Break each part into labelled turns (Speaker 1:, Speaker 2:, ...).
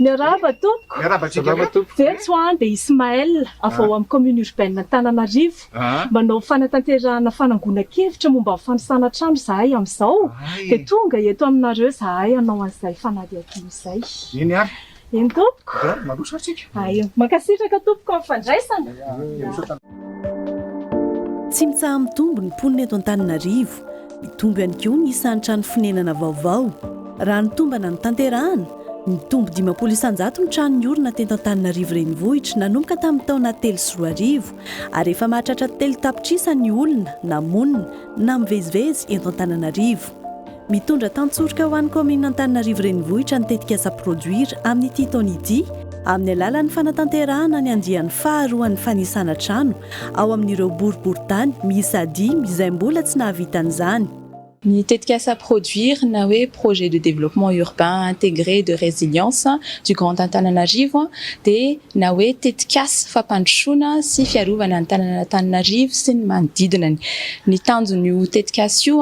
Speaker 1: Miarahaba tompoko. Miarahaba antsika Salama koa. tompoko.
Speaker 2: Very tsy ho any dia
Speaker 1: Ismaël avy ao amin'ny commune urbaine Antananarivo. Ah. Manao fanatanterahana fanangonan-kevitra momba ny fanisana trano izahay amin'izao Hay. dia tonga eto aminareo izahay hanao an'izay fanadihadiana izay. Eny ary.
Speaker 2: Eny tompoko. Dia
Speaker 1: mandroso ary tsika.
Speaker 2: Aio. Mankasitraka
Speaker 1: tompoko amin'ny fandraisana. Dia
Speaker 3: misaotra. Tsy mitsaha-mitombo ny mponina eto Antananarivo. Mitombo ihany koa ny isan'ny trano fonenana vaovao. Raha ny tombana notanterahana, mitombo dimampolo isanjato ny trano niorina teto Antananarivo renivohitra nanomboka tamin'ny taona telo sy roa arivo, ary efa mahatratra telo tapitrisa ny olona na monina na mivezivezy eto Antananarivo. Mitondra tantsoroka ho an'ny kaominina Antananarivo Renivohitra ny tetikasa Produire amin'ity taona ity amin'ny alalan'ny fanatanterahana ny andiany faha roan'ny fanisana trano ao amin'ireo boriboritany miisa dimy izay mbola tsy nahavita an'izany. Ny
Speaker 4: tetikasa Produire na hoe Projet de Développement Urbain Intégré de Résilience du Grand Antananarivo dia na hoe tetikasa fampandrosoana sy fiarovana ny tananan'Antananarivo sy ny manodidinany. Ny tanjon'io tetikasa io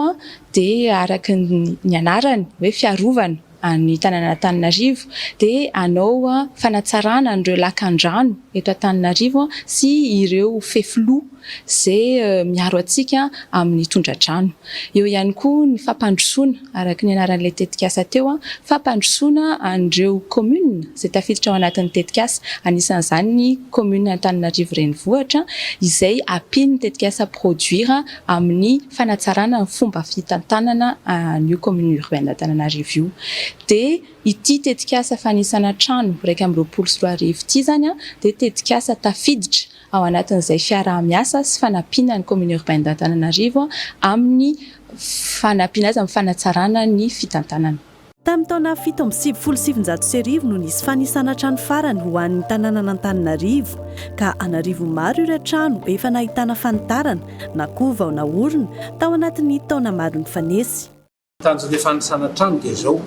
Speaker 4: dia araka ny anarany hoe fiarovana an'ny tanànan'Antananarivo dia hanao fanatsarana an'ireo lakandrano eto Antananarivo sy ireo fefiloha izay miaro antsika amin'ny tondradrano. Eo ihany koa ny fampandrosoana, araka ny anaran'ilay tetikasa teo, fampandrosoana an'ireo kaominina izay tafiditra ao anatin'ny tetikasa, anisan'izany ny kaominin'Antananarivo Renivohitra izay ampian'ny tetikasa Produire amin'ny. fanatsarana ny fomba fitantanana an'io commune urbaine Antananarivo io dia ity tetikasa fanisana trano iraika amby roapolo sy roa arivo ity izany dia tetikasa tafiditra ao anatin'izay fiaraha-miasa sy fanampiana ny commune urbaine d'Antananarivo amin'ny fanampiana azy amin'ny fanatsarana ny fitantanana Tamin'ny taona
Speaker 3: fito amby sivifolo sy sivinjato sy arivo no nisy fanisana trano farany ho an'ny tanànan'Antananarivo, ka an'arivo maro ireo trano efa nahitana fanitarana, na koa vao naorina, tao anatin'ny taona maro nifanesy. Tanjon'ny fanisana
Speaker 5: trano dia izao,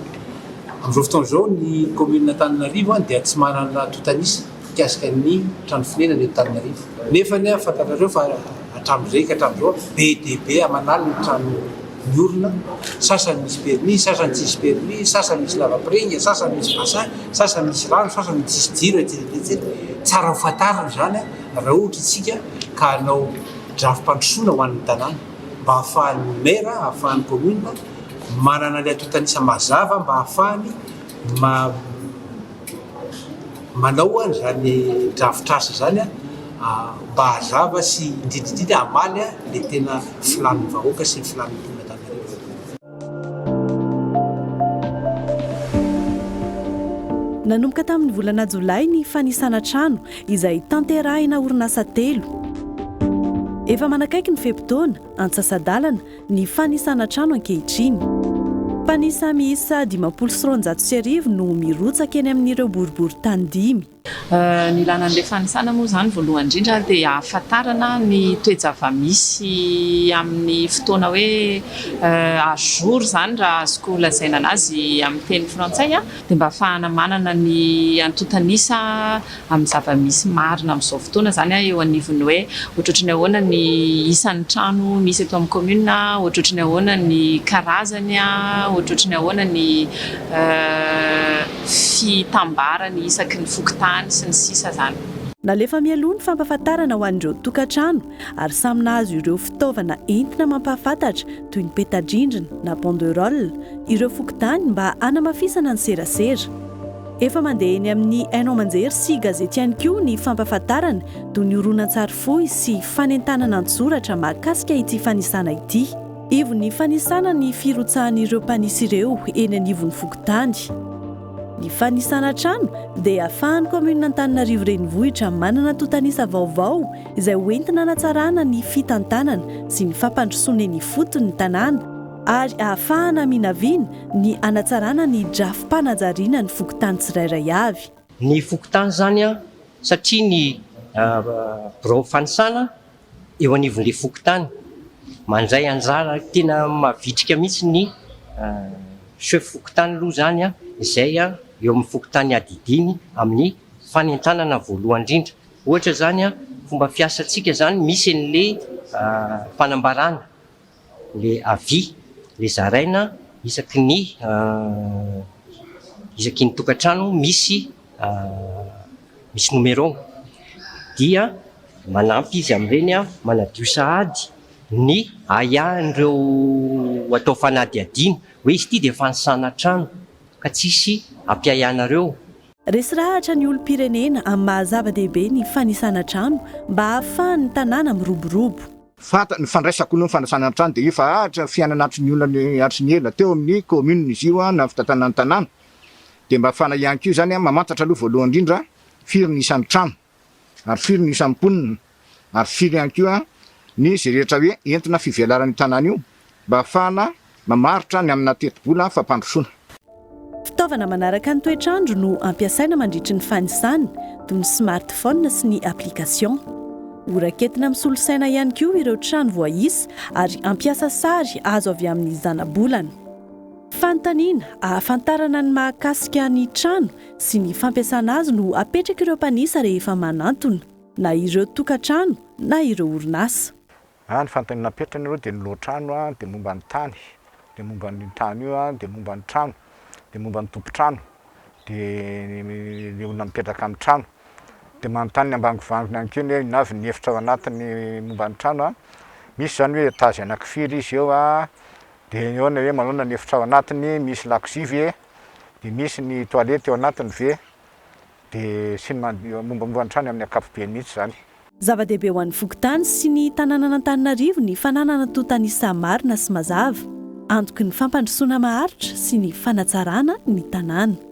Speaker 5: amin'izao fotoana izao ny kaominin'Antananarivo dia tsy manana tontanisa mikasika ny trano fonenana eto Antananarivo, nefa fantatrareo fa. Hatramin'izay ka hatramin'izao, be dia be aman'aliny ny trano miorina, sasany misy permis, sasany tsisy permis, sasany misy lavapiringa, sasany misy bassin, sasany misy rano, sasany tsisy jiro, etsy etsy etsy. Tsara ho fantarina izany raha ohatra isika ka hanao drafi-pandrosoana ho an'ny tanàna mba ahafahan'ny maire, ahafahan'ny commune manana ilay antontan'isa mazava mba ahafahany ma-. manao izany drafitr'asa izany mba hazava sy indrindra indrindra hamaly ilay tena filàn'ny vahoaka sy ny filàn'ny mponan'Antananarivo.
Speaker 3: Nanomboka tamin'ny volana jolay ny fanisana trano izay tanterahina orinasa telo. Efa manakaiky ny fe-potoana, antsasa-dalana ny fanisana trano ankehitriny. Mpanisa miisa dimampolo sy roanjato sy arivo no mirotsaka eny amin'ireo boriborintany dimy. Ny ilàna
Speaker 4: an'ilay fanisana moa izany voalohany indrindra dia hahafantarana ny toe-java-misy amin'ny fotoana hoe à jour izany raha azoko lazaina an'azy amin'ny teny frantsay, dia mba hahafahana manana ny antontan'isa. amin'ny zava-misy marina amin'izao fotoana izany eo anivon'ny hoe ohatrohatry ny ahoana ny isan'ny trano misy eto amin'ny kaominina, ohatrohatry ny ahoana ny karazany, ohatrohatry ny ahoana ny fitambarany isaky ny fokontany sy ny sisa izany. Nalefa mialoha
Speaker 3: ny fampahafantarana ho an'ireo tokantrano ary samy nahazo ireo fitaovana entina mampahafantatra toy ny peta-drindrina na banderole ireo fokontany mba hanamafisana ny serasera. Efa mandeha eny amin'ny haino aman-jery sy gazety ihany koa ny fampahafantarana toy ny horonantsary fohy sy fanentanana an-tsoratra mahakasika ity fanisana ity. Ivon'ny fanisana ny firotsahan'ireo mpanisy ireo eny anivon'ny fokontany. Ny fanisana trano dia ahafahan'ny kaominina Antananarivo Renivohitra manana tontanisa vaovao izay hoentina hanatsarana ny fitantanana sy ny fampandrosoana eny ifotony ny tanàna. ary ahafahana minavina ny hanatsarana ny drafi-panajariana ny fokontany tsirairay avy. Ny fokontany
Speaker 6: izany satria ny birao fanisana eo anivon'ilay fokontany mandray anjara tena mavitrika mihitsy ny chef fokontany aloha izany izay eo amin'ny fokontany adidiny amin'ny fanentanana voalohany indrindra. Ohatra izany fomba fiasantsika izany misy an'ilay fanambarana. le avis le zaraina isaky ny isaky ny tokantrano misy misy numéro dia manampy izy amin'ireny manadio sahady ny ahiahin'ireo atao fanadihadiana hoe izy ity dia fanisana trano ka tsisy ampiahy anareo. Resirahatra
Speaker 3: ny olom-pirenena amin'ny maha zava-dehibe ny fanisana trano mba hahafahan'ny tanàna miroborobo. Fanta, ny fandraisako
Speaker 2: ny fanasana ny trano dia efa ahatra ny fiainana hatry ny olana hatry ny ela, teo amin'ny commune izy io na ny fitantanana ny tanàna dia mba fana ihany koa izany, mamantatra aloha voalohany indrindra firy ny isan'ny trano ary firy ny isan'ny mponina ary firy ihany koa ny izay rehetra hoe entina fivelaran'io tanàna io. mba hahafahana mamaritra ny amina tetibola fampandrosoana. Fitaovana
Speaker 3: manaraka ny toetr'andro no ampiasaina mandritry ny fanisana, toy ny smartphone sy ny application. Ho raketina amin'ny solosaina ihany koa ireo trano voaisa ary hampiasa sary azo avy amin'ny zanabolana. Fanontaniana ahafantarana ny mahakasika ny trano sy ny fampiasana azy no apetrak'ireo mpanisa rehefa manantona na ireo tokantrano na ireo orinasa. A, ny fanontaniana
Speaker 2: napetrany aloha dia ny lohatrano a, dia momba ny tany, dia momba an'io tany io a, dia momba ny trano, dia momba ny tompon-trano, dia ny olona mipetraka amin'ny trano. Dia manontany ny ambangovangony ihany koa ny hoe inona avy ny efitra ao anatiny momba ny trano a, misy izany hoe étage anankifiry izy eo a, dia eo ny hoe manaona ny efitra ao anatiny, misy lakozia ve, dia misy ny toilette ao anatiny ve, Dia sy ny manodidina mombamomba ny trano amin'ny ankapobeny mihitsy izany. Zava-dehibe ho an'ny
Speaker 3: fokontany sy ny tanànan'Antananarivo ny fananana tontanisa marina sy mazava, antoky ny fampandrosoana maharitra sy ny fanatsarana ny tanàna.